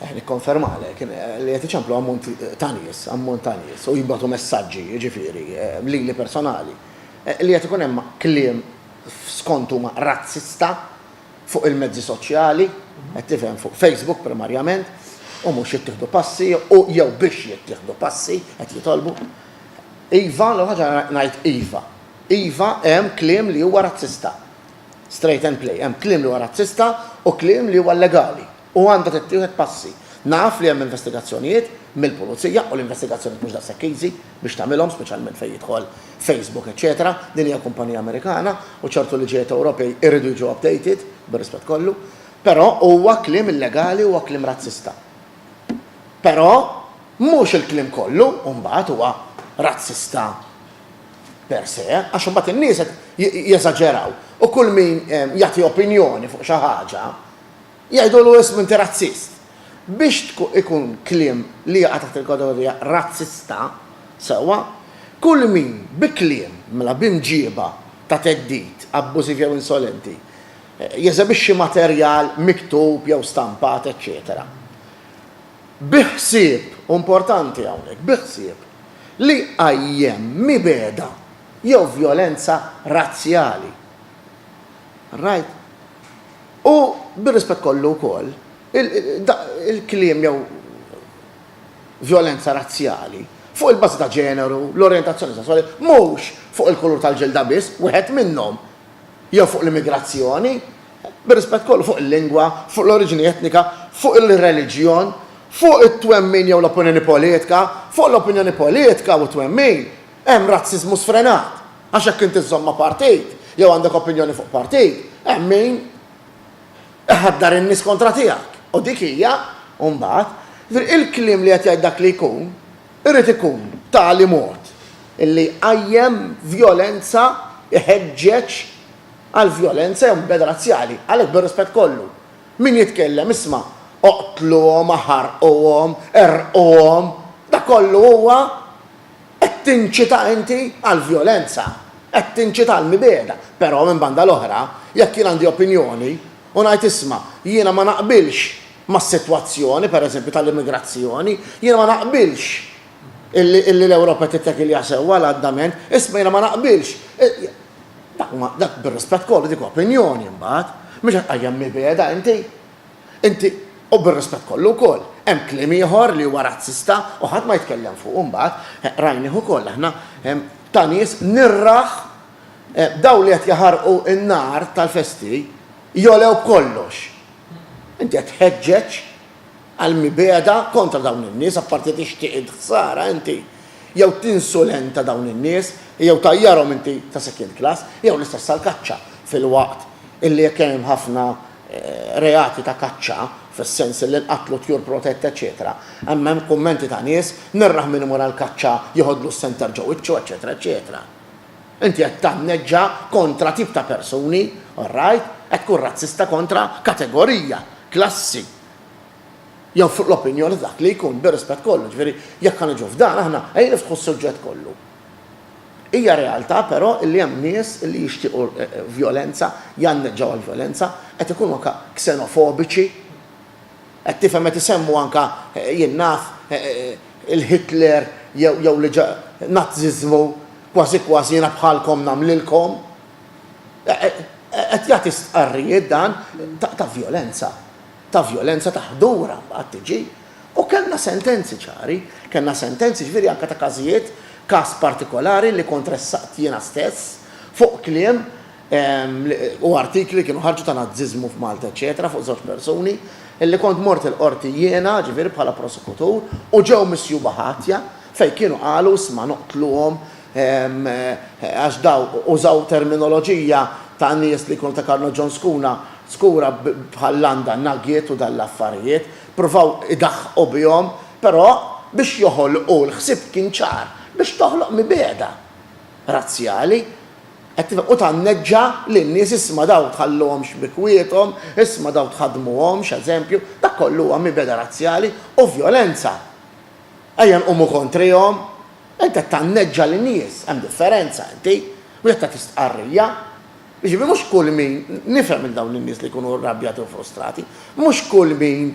Eh, nikkonfermalek li qed iċemplu ammont ta' nies, ammont ta' nies u jibgħatu messaġġi, jiġifieri, eh, lili personali, eh, li qed ikun hemm kliem skont huma razzista fuq il-mezzi soċjali, qed tifhem fuq Facebook primarjament, u mhux jittieħdu passi u jew biex jittieħdu passi qed jitolbu. Iva, l ħaġa ngħid iva. Iva hemm kliem li huwa razzista. Straight and play. Hemm kliem li huwa razzista u kliem li huwa llegali. U għandha tittieħed passi. Naf li hemm investigazzjonijiet mill-pulizija u l-investigazzjonijiet mhux daqshekk easy biex tagħmilhom speċjalment fejn jidħol Facebook eċċetera. Din hija kumpanija Amerikana u ċertu liġijiet Ewropej iridu jiġu updated, bir-rispett kollu. Però huwa kliem illegali huwa kliem razzista. Però mhux il-kliem kollu mbagħad huwa razzista. per se, għax imbagħad in-nies qed jeżaġeraw u kull min jagħti opinjoni fuq xi ħaġa jgħidulu ismu inti razzist. Biex ikun kliem li jaqa' taħt il-kategorija razzista, sewwa, kull min bi kliem, mela b'imġieba ta' theddid, abbużiv jew insolenti, jeżebixxi materjal miktub jew stampat, eċċetera. bi ħsieb, u importanti hawnhekk, bi ħsieb li jqajjem mibegħda jew vjolenza razzjali. Right? U bir-rispett kollu wkoll, il-kliem jew vjolenza razzjali fuq il-bażi ta' ġeneru, l-orjentazzjoni sesswali, mhux fuq il-kulur tal-ġilda biss, wieħed minnhom jew fuq l-immigrazzjoni, bir-rispett kollu, fuq il-lingwa, fuq l-oriġini etnika, fuq il-reliġjon, fuq it-twemmin jew l-opinjoni politika, fuq l-opinjoni politika u t-twemmin, hemm razziżmu sfrenat, għax jekk inti żżomm ma' partit jew għandek opinjoni fuq partit, hemm min iħaddar in-nies kontra tiegħek u dik hija, imbagħad, jiġifieri il-kliem li qed jgħid dak li jkun, Irid ikun b'tali mod li jqajjem vjolenza, iħeġġeġ għal vjolenza jew mibgħeda razzjali. Għalhekk bir-rispett kollu, min jitkellem, isma', oqtluhom, aħarquhom, errquhom, dak kollu huwa qed tinċita inti għall-vjolenza, qed tinċita għall-mibgħeda. Però, minn banda l-oħra, jekk jien għandi opinjoni u ngħid isma', jiena ma naqbilx mas-sitwazzjoni, pereżempju, tal-immigrazzjoni, jiena ma naqbilx illi l-Ewropa tittekilja sewwa għal andament, isma' jiena ma naqbilx. Dak bir-rispett kollu dik opinjoni mbagħad, mhux qed tqajjem mibegħda inti. Inti u bir-rispett kollu wkoll, hemm kliem ieħor li huwa razzista u ħadd ma jitkellem fuqu mbagħad, rajnih ukoll aħna, ta' nies nirrah dawn li qed jaħarqu n-nar tal-festi jogħlew b'kollox. Inti qed tħeġġeġ għal mibegħda kontra dawn in-nies, apparti tixtieq int ħsara inti, jew tinsulenta dawn in-nies, jew tajjarhom inti ta' second class, jew l-istess għall-kaċċa, filwaqt illi jekk hemm ħafna reati ta' kaċċa, fis-sens illi nqatlu tjur protette eċċetera, hemm hemm kummenti ta' nies, nirraħ min imur għall-kaċċa jħoddlu s-senter ġo wiċċu eċċetera eċċetera. Inti qed tanneġġa kontra tip ta' persuni, all right, qed tkun razzista kontra kategorija, klassi, jew fuq l-opinjoni ta' dak li jkun, bir-rispett kollu, ġifieri jekk ħa niġu f'dan aħna, ejja niftħu s-suġġett kollu. Hija realtà però li hemm nies li jixtiequ vjolenza, janneġġaw għall-vjolenza, qed ikunu anke ksenofobiċi, Qed tifhem qed isemmu anke, jien naf, il-Hitler jew li ġa Nazziżmu, kważi kważi jiena bħalkom nagħmlilkom. Qed jagħti stqarrijiet dan ta' vjolenza, ta' vjolenza ta' ħdura mbagħad tiġi. U kellna sentenzi ċari, kellna sentenzi ġifieri anke ta' każijiet, każ partikolari li kont ressaqt jiena stess fuq kliem u artikli kienu ħarġu ta' Naziżmu f'Malta eċċetera fuq żewġ persuni illi kont mort il-Qorti jiena, ġifieri bħala prosekutur, u ġew misjuba ħatja fejn kienu qalu isma' noqtluhom għax daw użaw terminoloġija ta' nies li jkunu ta' Karno John Scuna, Skura bħal Landa Nugget u dan l-affarijiet, pruvaw idaħħqu bihom, però biex joħolqu l-ħsieb kien ċar, biex toħloq mibegħda. razzjali, qed tifhem, u tanneġġa lin-nies, isma' dawn tħalluhomx b'ikwiethom, isma' dawn tħaddmuhomx, eżempju, dak kollu huwa mibegħda razzjali u vjolenza. Ejja nqumu kontrihom. Int qed tanneġġa lin-nies, hemm differenza inti, mhux qed tagħti stqarrija. Jiġifieri mhux kull min, nifhem lil dawn in-nies li jkunu rrabjati u frustrati, mhux kull min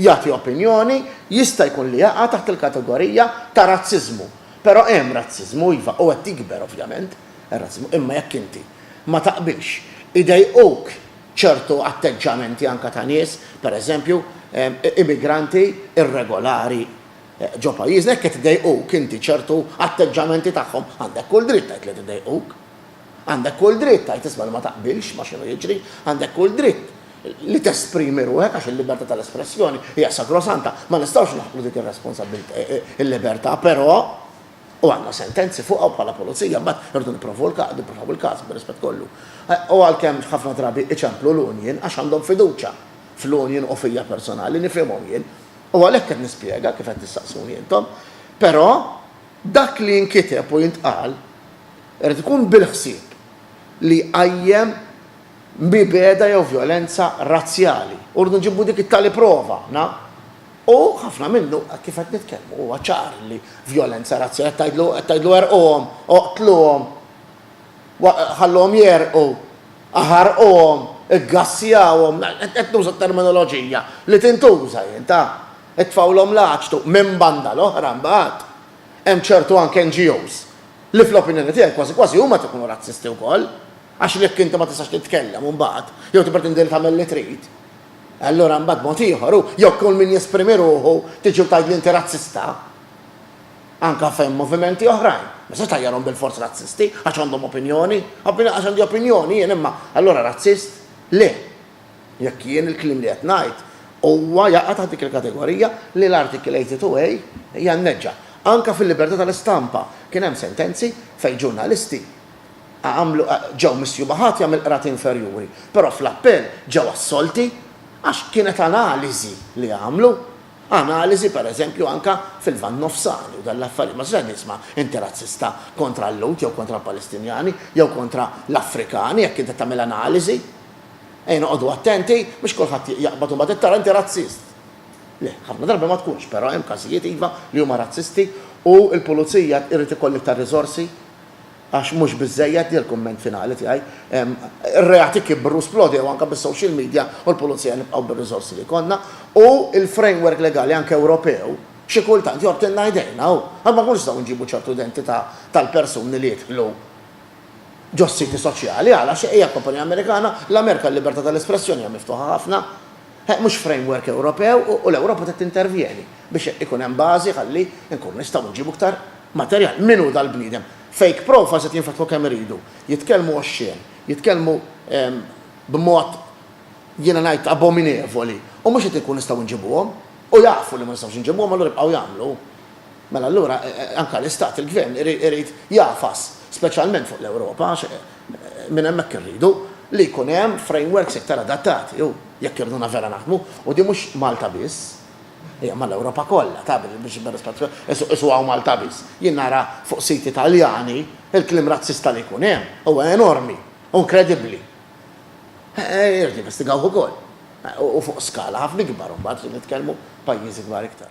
jagħti opinjoni jista' jkun li jaqa' taħt il-kategorija ta' razziżmu. Però hemm razziżmu, iva, u qed jikber ovvjament ir-razziżmu, imma jekk inti ma taqbilx, idejquk ċertu atteġġamenti anke ta' nies, pereżempju, immigranti irregolari ġo pajjiżna, jekk qed idejquk inti ċertu atteġġamenti tagħhom, għandek kull dritt tgħid li qed idejquk. Għandek kull dritt tgħid isma' li ma taqbilx ma' x'inhu jiġri, għandek kull dritt li tesprimi ruħek għax il-libertà tal-espressjoni hija sagrosanta, ma nistgħux naħqru dik ir-responsabbiltà, il-libertà, però, u għandna sentenzi fuqha u bħala pulizija mbagħad irridu nipprovaw il-każ, nipprovaw il-każ bir-rispett kollu. U għalkemm ħafna drabi iċemplu l-union għax għandhom fiduċja fl-union u fija personali, nifhimhom jien. U għalhekk qed nispjega kif qed tistaqsuni intom. Però, Dak li jinkiteb u jintqal irid ikun bil-ħsieb li jqajjem mibegħda jew vjolenza razzjali u rridu nġibu dik it-tali prova, na? U ħafna minnu, hekk kif qed nitkellmu, huwa ċar li vjolenza razzjali, qed tgħidlu, qed tgħidlu erquhom, oqtluhom, ħalluhom jegħrqu, aħarquhom, iggassjawhom, qed nuża terminoloġija li tintuża, jien, ta? Itfgħulhom l-għaġtu minn banda l-oħra mbagħad hemm ċertu anke NGOs li fl-opinjoni tiegħi kważi kważi huma qed ikunu razzisti wkoll għax jekk inti ma tistax titkellem mbagħad jew tippretendi li tagħmel li trid allura mbagħad mod ieħor hu jew kull min jesprimi ruħu tiġi u tgħidli inti razzista anke fejn movimenti oħrajn ma se tajjarhom bil-fors razzisti għax għandhom opinjoni għax għandi opinjoni jien imma allura razzist le Jekk jien il-kliem li qed ngħid, huwa jaqa' taħt dik il-kategorija li l-Article 82A hija mneġġa. Anke fil-libertà tal-istampa kien hemm sentenzi fejn ġurnalisti għamlu, ġew misjuba ħatja mill-qrati inferjuri, però fl-appell ġew assolti għax kienet analiżi li għamlu. Analiżi, pereżempju, anke fil-Lvant Nofsani u dan l-affarijiet. Ma tistax tisma' inti razzista kontra l-Lhud jew kontra l-Palestinjani jew kontra l-Afrikani jekk inti qed tagħmel analiżi. Ejja noqogħdu attenti biex kulħadd jaqbad u mbagħad qed tara inti razzist. Le, ħafna drabi ma tkunx, però hemm każijiet iva li huma razzisti u l-pulizija irid ikollha iktar riżorsi għax mhux biżżejjed, li l-kumment finali tiegħi, ir-reati kibru, splodew anke bis-social media u l-pulizija nibqgħu bir-riżorsi li jkollna u l-framework legali anke Ewropew xi kultant jgħottilna idejna u għad ma nkunux nistgħu nġibu ċertu identità tal-persuni li jidħlu ġos-siti soċjali, għala xi hija kumpanija Amerikana? L-Amerika l-libertà tal-espressjoni hija miftuħa ħafna. He, mhux framework Ewropew u, u l-Ewropa trid tintervjeni biex ikun hemm bażi ħalli nkunu nistgħu nġibu iktar materjal. Min hu dal-bniedem? Fake profiles qed jinfetħu kemm iridu. Jitkellmu oxxien, jitkellmu ehm, b'mod jiena ngħid abominevoli u mhux qed inkunu nistgħu nġibuhom. U jafu li ma nistgħux nġibuhom allura jibqgħu jagħmlu. Mela allura anke l-Istat, il-Gvern, irid jagħfas, speċjalment fuq l-Ewropa, għax minn hemmhekk irridu, li jkun hemm frameworks iktar adattati u jekk irduna vera naħdmu, u din mhux Malta biss, hija mal-Ewropa kollha, ta, biex isuha u Malta biss. Jien nara fuq siti Taljani l-kliem razzista li jkun hemm huwa enormi u inkredibbli. Irid jinvestigawh ukoll. U fuq skala ħafna ikbar imbagħad nitkellmu pajjiżi kbar iktar.